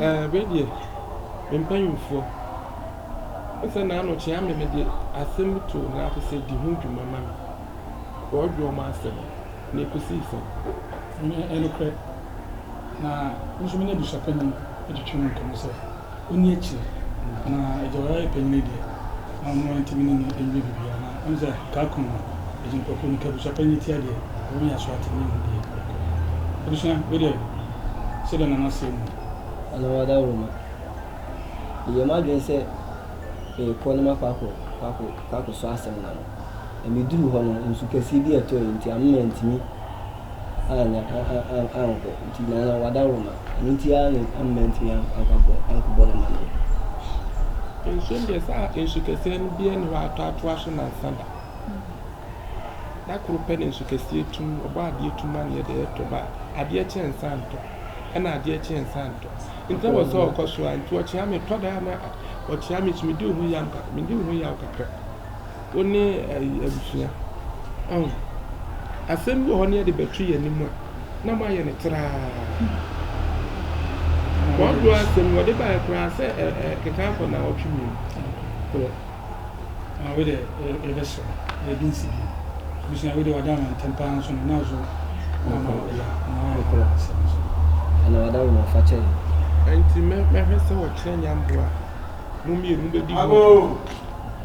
Ɛɛ, me deɛ, me mpanimfoɔ, wo sɛ na ano kyea me, mede asɛm bi too wɔn ase sɛ, di ho dwuma ma me. Wɔredwe wɔn asɛm, na ɛkɔsii sɛn? Ɛnyɛ nokorɛ. Na me nso me ne abusuapanin twetwee mu nkɔmmɔ sɛ. Onni akyire na agya ɔyɛ ayɛ panyin deɛ na ɔno antumi ne no anyɛ biribiara na wonim sɛ kaa kum no nti nkurɔfoɔ no ka abusua panyin tia deɛ ɔwɔ nyɛ so atumi ahu deɛ ɛrekɔ no abusua wei deɛ sɛdeɛ Nana seɛ no. Nana Wadawuruma, Meyɛɛ m'adwene sɛ merekɔ na makɔ akɔ akɔ akɔsɔ asɛm no ano na meduruu hɔ no nsu kɛseɛ bi a ɛtɔeɛ nti amma mantumi. annya annkɔ ntsi na ɔno ɔada Roma, ɔno ntsi ara na amma enntumi annkɔbɔ no amanneɛ. Nsu ndeɛ saa nsu kɛseɛ no bia nni hɔ a atɔ atoa so nansa da. Da koro pɛ na nsu kɛseɛ tu mu, ɔbɔ adeɛ tu mu a na yɛda yɛ tɔ ba, adeɛ kye nsa ntɔ, ɛna adeɛ kye nsa ntɔ. Nti na wɔ sɛ ɔkɔ so a, nti ɔkyea me, tɔ da a na ɔkyea me nso medi ho yam kakra, medi ho yaw kakra. Wo ne ayi abusua oh. Asɛm bi wɔ hɔ ne yɛde bɛto yɛn anim a, na moayɛ no traa. Wɔadoa asɛm wɔde baeɛ koraa sɛ ɛkeka akɔ nnawɔtwe mmienu. Ah, wei deɛ yɛbɛsrɛ yɛde nsi bi. Abusua wei deɛ wɔada ama ntɛm paa nso no, na so ama ɔyɛ ɔyɛ asɛm nso. Ɛna wɔada wɔn fa kyɛ yɛn. Ɛnti mɛhwɛ sɛ wɔkyerɛ nyamboa a mo mmienu bɛdi ho.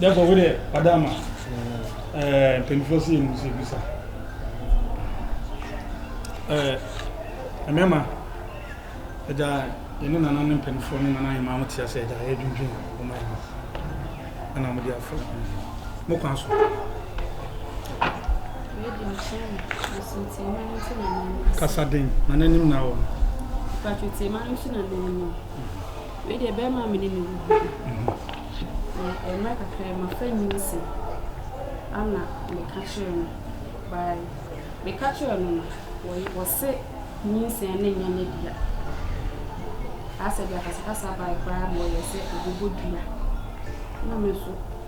Therefore, wo deɛ wada ama ɛɛ mpanyinfoɔ si yɛn nsi bisa ɛɛ mmarima ɛgya yɛn ne nana ne mpanyinfoɔ ne nana yɛn maa mo te ase ɛgya yɛ dwindwin wɔn ayɛ mo ɛna mo de afɔ mo kwan so. Kasa den na n'anim na wɔn. Patrick Tiemano nso na n'anim. Wei deɛ bɛrima me ne no wu bi na mmerɛ kakra yi mafa nyinsi ana meka kyerɛ no by meka kyerɛ no no wɔse nyinsi ne nyɛ ne dea asɛ de akasakasa by koraa ma ɔyɛ sɛ ɔbɛbɔ dua na me nso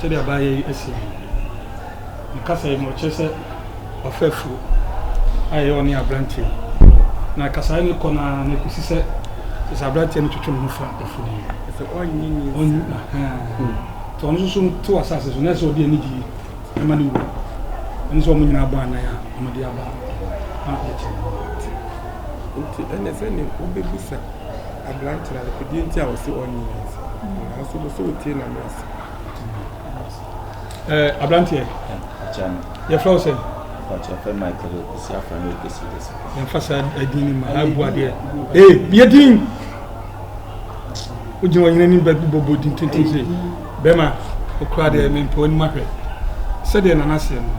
Sɛdeɛ abaayɛ yi asi no, ne kasa yi ma ɔkyerɛ sɛ wafa afuo a ɛyɛ ɔne aberanteɛ yi. Na kasaeɛ no kɔ no ara na ɛkɔsi sɛ kyerɛ sɛ aberanteɛ no twetwe ne ho fa afuo no mu. Ɛsɛ ɔnye ne nsa. Ɔnye ahaa. Nti ɔno nso so to asase so na ɛsɛ ɔde anigye ɛma ne wura. Ɛne sɛ wɔn nyinaa bɔ anan a wɔde aba na yɛte ne ho. Nti ɛne sɛ ne wobɛbisa aberanteɛ no adeɛ nti a ɔse ɔnye ne nsa. Nanso wopɛ sɛ wotie na mmra ase. Ɛɛ abranteɛ. Akyɛ no. Yɛfrɛ wo sɛ. Akyɛ fɛ Michael Okwusi afra no Okwusi de so. Yɛmfa saa ɛdin ni ma ha bu adeɛ. Ee yɛ din. Wogyina wɔn anim bɛ bɔbɔ din tenten sɛ bɛma okura deɛ ɛmɛ mpɛ wɔn ahwɛ sɛdeɛ nana seɛ no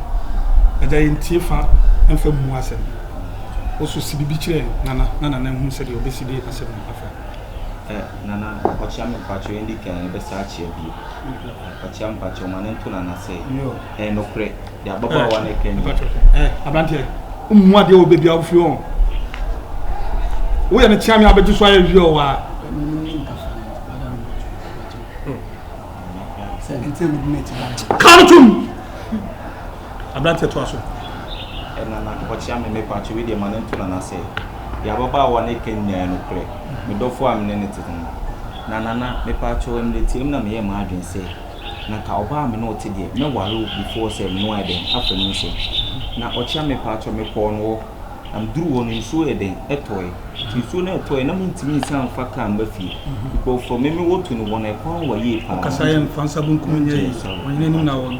ɛgya yɛn tie fa mfa mu asɛm woso si bibi kyerɛ nana na nana hu sɛdeɛ ɔbɛsi de asɛm afa. Nana ɔkyea me mpakyɛw yɛn di kan yɛbɛsa akyea bio ɔkyea mpakyɛw ma ne nto nana sɛ ɛyɛ nokorɛ de ababaawa no ɛka nyina aberanteɛ mmu adeɛ wɔ baabi a wofiri ɔ woyɛ no kyea me abɛgye so ayɛ wie ɔ waa Come to me. Aberanteɛ toa so. Nana, ɔkyea me, me paakye wei deɛ ma no nto Nana sɛ, deɛ ababaawa no reka nyinaa yɛ nokorɛ, me dɔfoɔ a me ne no tete no. Na Nana, me paakye wo, mmerɛ tiaa mu na me yɛɛ m'adwene sɛ, na nka ɔbaa a me ne wo te deɛ, mɛ ware wo before sɛ me ne wo ayɛ dɛn, afa mu nsɛm. Na ɔkyea me, me paakye me kɔɔ no hɔ, na me duru hɔ no, nsuo yɛ dɛn, ɛtɔɛ. Nti nsuo no ɛtɔɛ, na me ntumi nsan mfa car mma fie, nkurɔfoɔ, me me wo to no wɔn ɛkwan wa yie paa. Ɔkasaeɛ no, fa nsa bonkum nyɛ yei, ɔnyina anim na awɔ no.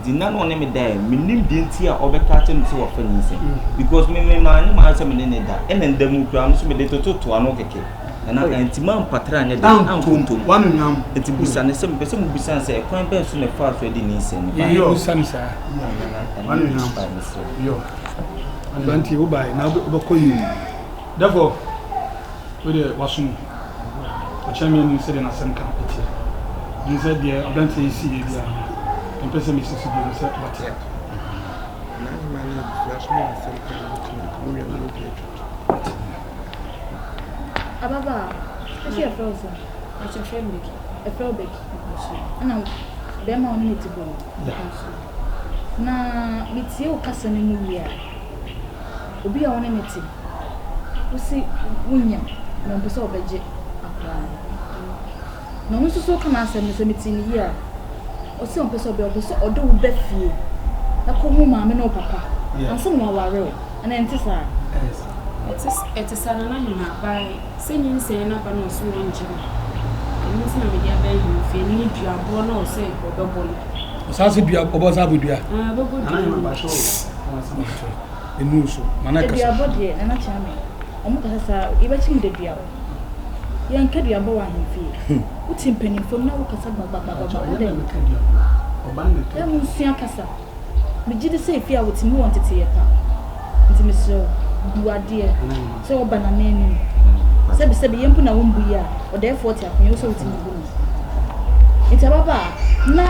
Nti nna na ɔne me da ɛ, mennim deɛ nti a ɔbɛka akyerɛ me sɛ wafa nyinsɛn because me me manyɛ m'ayɛ sɛ me ne ne da ɛna nda mu koraa no so mede toto to ano kɛkɛ nana oh. nti mampatra anyɛ dɛ anto ntom nti busa ne sɛ mepɛ sɛ mobisa sɛ ɛkwan bɛn so na ɛfaa so adi ne nsɛm no babusa no saa nana ɛno ne nhyira mesrɛ aberanteɛ wobae na wobɛkɔ yie Therefore, wei deɛ waso mu. Ɔkyerɛ me anim sɛdeɛ n'asɛm ka teɛ. Ɛne sɛ deɛ aberanteɛ yi siiɛ biara no, mempɛ sɛ mesi so bio sɛ wate. Ababaa, ɛsɛ yɛfrɛ wo sɛ akyerɛkyerɛ no bɛki, ɛfrɛ wo bɛki. Ɛna bɛrima wo ne ne te bɔ no. Na metie wo kasa no mu wie a. obi a wo ne no te, wo se wonya na wo pɛ sɛ ɔbɛgye akwadaa no. Na ɔno nso so ɔka n'asɛm no sɛ metii ne yie a, ɔse ɔmpɛ sɛ ɔbɛyɛ, ɔpɛ sɛ ɔde wo ba fie na kɔ hu maame ne wo papa ansa na waware wo. Anaa ɛnte saa? Ɛte saa Nana Hima, by sɛ nyinsɛn no aba na ɔse wɔngye no, ɛno nti na mede aba Ahima fie, ɛno ne duaboɔ na ɔse ɔbɛbɔ no. Ɔsan se dua, ɔbɔ san bɔ dua? Ɛɛ ɔbɛbɔ dua no. Aduabɔ deɛ nana kyea me ɔmo kasa saa yɛbɛkyem da dua hɔ yɛnka duabɔ wɔ ahemfie wote mpanimfam na wokasa gbagbagbagbagba adɛn na monsua kasa megye de sɛ efie a wotumi wɔ nteteyɛ pa nti mesrɛ wo bu adeɛ sɛ wɔba nana anim sɛbisɛbi yɛ mpo na wombu yi a ɔdɛɛfoɔ te akonya wo sɛ wotumi bu no nti ababaa na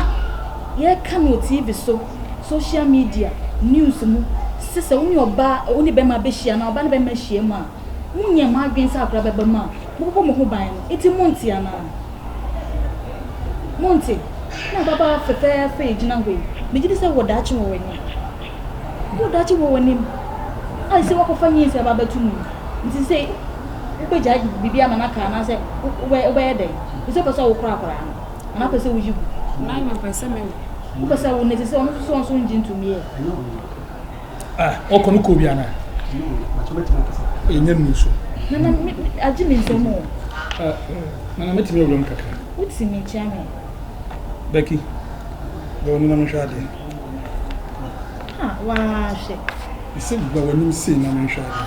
yɛka no wɔ tv so social media, news mu sɛ sɛ wo ne ɔbaa a wo ne bɛrima bɛhyia anaa ɔbaa ne bɛrima ahyia mu a, monyɛ mo adwene sɛ akora bɛba mu a, mobɛbɔ mo ho ban no. Enti monte anaa? Monte? Na ababaawa fɛfɛɛfɛ yi gyina hɔ yi, megye di sɛ wɔ daakye wɔ w'anim. Wɔ daakye wɔ w'anim. Ayɛ sɛ woakɔfa nyinsɛ aba abɛto mu yi. Nti sɛ wobɛgyae biribi ama no aka anaasɛ wobɛyɛ dɛn? Ɛsɛ wopɛ sɛ wokora akwadaa no. anaa wopɛ sɛ woyi gu? Nine mepɛ sɛ mewo. Wopɛ sɛ wo na ɛsɛ sɛ ɔno nso ɔnso ngye ntomi ɛ. Ah, ɔkɔ no kɔ bi anaa? Ɛnyɛ nu so. Nana, agye me nsɛm o. Nana, mɛtumi awura mu kakra. Wotumi kyɛ me. Becky, bɛwɔ no na menhwɛ adeɛ. Ah, waa hwɛ. Ɛsɛ gba w'anim sei na menhwɛ adeɛ.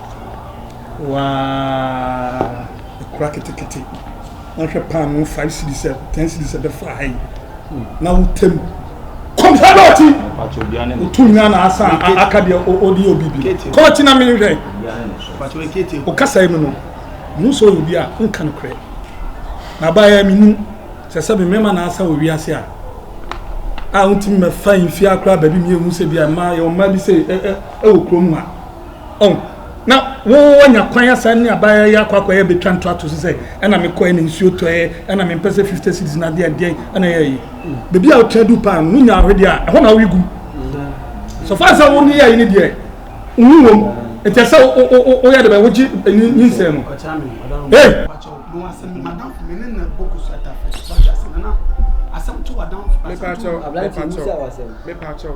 Waah kura ketekete na hwɛ paano five series ten series ɛbɛfa ha yi na wotɛm kɔmisa dɔɔti wotu nua na asa aka deɛ ɔdi obi bi kɔɔti na mehwɛ ɔkasa yi mu no mu sɛ ɔyɛ bi a nka no korɛ na abayɛ menim sɛ sɛ me mmarima na asa wɔ wiase a a wontumi mɛfa mfie akora baabi mmienu sɛ bi a mmaa yɛ ɔmmaa bi sɛ ɛwɔ kurom a Ɔn, na wo wanya kwan asa ne abayewa yi akɔ akɔyɛ betwa ntoato so sɛ ɛna mekɔɛ na nsuo tɔɛ ɛna mempɛ sɛ 50 cities na deɛ deɛ ɛna yɛ yi. Baabi a wotra du paa no no nya ahwedeɛ a ɛhɔ na woyi gu. So far sɛ wo ne yɛ yi ne deɛ nwu wom nti ɛsɛ woyɛ de bɛ wogye nyinsɛn no. Hey! Mepakyɛw, mepakyɛw, mepakyɛw.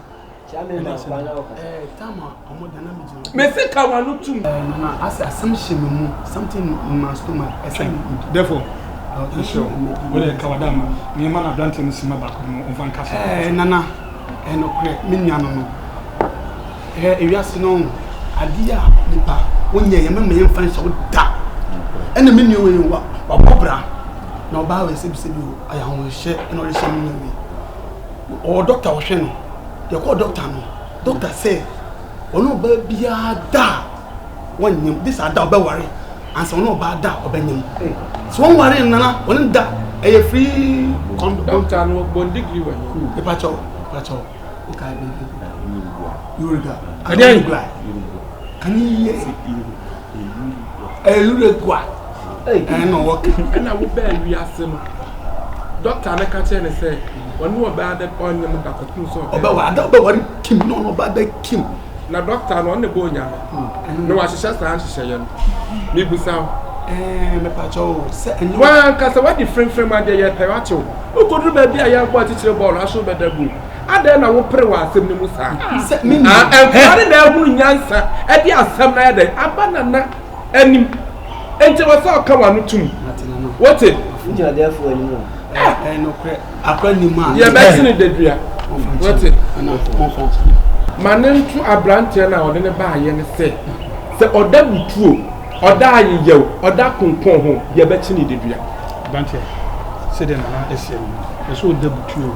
mese ka wano tum asɛ asɛm hyɛ me mu something in my stomach ɛsɛ therefore wode ka wada ma meɛma no aberante no sima baako no ɔmfa nka so nana ɛnokorɛ me nua no no ewiase no adeɛ a nipa wonyɛ yɛ mɛma yɛmfa nhyɛ wo da ɛna me nua wei wabɔ bra na ɔbaa wei sɛbisɛbi ɔyɛ ahohyɛ ɛna ɔrehyɛ me nua wei ɔwɔ dɔkta ɔhwɛ no yɛkɔɔ dɔkta no dɔkta sɛ ɔne ɔbaa biara da a wɔnyam de sɛ ada ɔbɛware ansa ɔne ɔbaa da a ɔbɛnyam sɛ wɔnware nana ɔne da ɛyɛ free kɔndɔ dɔkta no bɔn digiri wɔ he nipakyɛw nipakyɛw nkae bɛn yoruba yoruba yoruba ɛne yie Uruguay ɛna ɔwɔ ka. Ɛna wo bɛɛ wiase no dɔkta no ka kyerɛ ne sɛ ɔne ɔbaa ada ɔnyɛ mo da kɔpem sɛ ɔbɛ ɔbɛwɔ ada ɔbɛwɔre kim na ɔne ɔbaa da kim na dɔkta no ɔne bɔ onyame na wahyehyɛ saa nhyehyɛeɛ no mebusa wo ɛɛ mepakyɛ wo sɛ ɛnyɛ wankasa wadi fremfrem adeɛ yɛ pɛ watew wokɔduru baabi a yɛabɔ akyekyere bɔɔl ahyew bɛda gum adɛn na wopere wɔ asɛm no mu saa nkora ne na ahunu nyansa ɛde asɛm no ayɛ dɛn aba nana anim nti wɔ sɛ ɔka wano tom wote yɛbɛsene dadua wote ma ne nto aberanteɛ no a ɔde ne baayɛ no sɛ sɛ ɔda butuo ɔda ayeyɛw ɔda konkɔn ho yɛbɛkye ne dadua sɛdeɛ nana ɛsiɛ no ɛsɛ ɔda butuo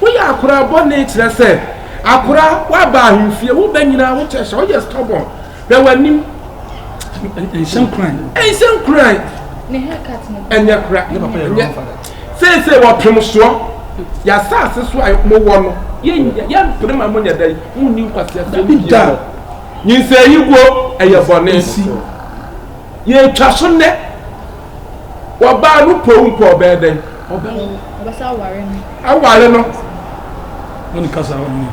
Woyɛ akora bɔne kyerɛ sɛ akora woaba ahemfie wo bɛ nyina wo kyɛ hyɛ woyɛ stubborn hwɛ w'anim nhyɛ nkuran nhyɛ nkuran ɛnyɛ kora ɛnyɛ seesei wɔpem soɔ yɛasaase so a mowɔ no yɛmpere ma monyɛ dɛn monni nkwaseaseɛ no bia nyinsɛ yi guo ɛyɛ bɔne yɛtwa so nnɛ wɔbaa no powu mpo ɔbɛɛ dɛn Ɔbɛsa aware no. Aware no.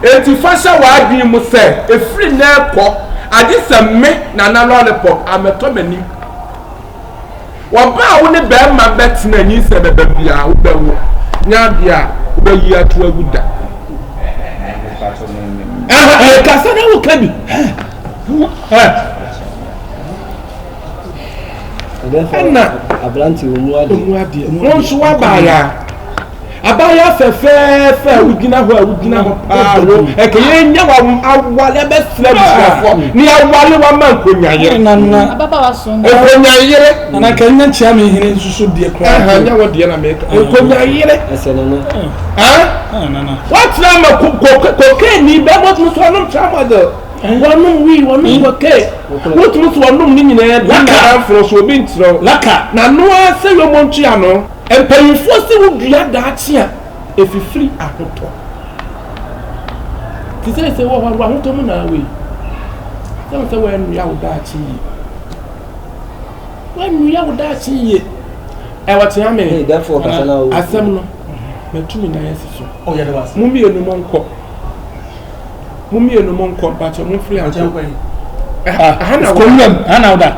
Enti fa hyɛ w'adwene mu sɛ ɛfiri nnɛ rekɔ agye sɛ me Nana Lollipop amɛtɔ m'anim. Ɔba a wo ne barima bɛtena nyinsɛn bɛba biara wobɛwo nyɛ adeɛ a wobɛyi ato agu da. Kasa na woka bi. ɛna ɔmu adeɛ wɔn nso abaayaa abaayaa fɛfɛɛfɛ a wogyina hɔ a wogyina hɔ paa wo ɛkɛ yɛn nya wɔn awale bɛsrɛ busuafoɔ ne awale wɔn ama nkonyayere nkonyayere nana kɛ nya kyia mi hene nsoso deɛ kura ɛhɛn nya wɔ deɛ na mɛka nkonyayere ɛsɛ nana ɛn wɔtena ma kokaini bɛɛ wɔtumi so anum tramadol. Wɔnom wii, wɔnom gote, wotumi so wɔnom ne nyinaa bi na amforo so obi nkyerɛw, na no ara sɛ yɔmɔ ntua no. Mpanyinfoɔ se wo dua daakye a efifiri ahotɔ. Te seesei wɔ hɔ no w'ahotɔ mu na wei. Sɛ wo sɛ w'anua wo daakye yie. W'anua wo daakye yie. Ɛwɔ tea me. Asɛm no, matumi na yɛsi so. Mo mmienu mo nkɔ. Mo mmienu mo nkɔ mpakyɛ mo mfiri ankɔ. Aha na wɔ. Kɔmlɛm aha na ɔda.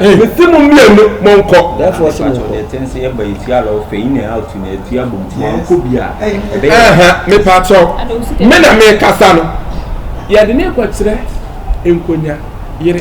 Mesi mo mmienu mo nkɔ. Dɛfo ɔsi mo nkɔ. Ɛtɛn sɛ yɛba etua ala ɔfɛ yi na out na etua bom ti wɔn nkɔ bi a. Ɛbɛyɛ. Mepakyɛw me na mekasa no. Yɛde ne nkɔkyerɛ nkonya yere.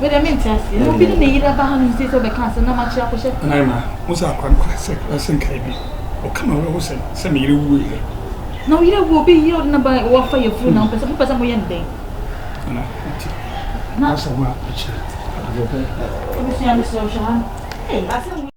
Wede me nte aseɛ na obi ne ne yere aba ha nom sei sɛ ɔbɛka asɛm na makyerɛ akɔhyɛ. Naima, wo sɛ akora no kora sɛ kora sɛ nkae bi ɔka ma werɛ ho sɛ sɛ me yere wue yɛ. Na wo yere wu obi yere ɔde na ba ɔwɔ afa yɛ furu na mpɛ sɛ mopɛ sɛ moyɛ no dɛn. Ana nti. Na asɛm a akyire. Abusua mesrɛ wo hwɛ ha no. Hey asɛm wei.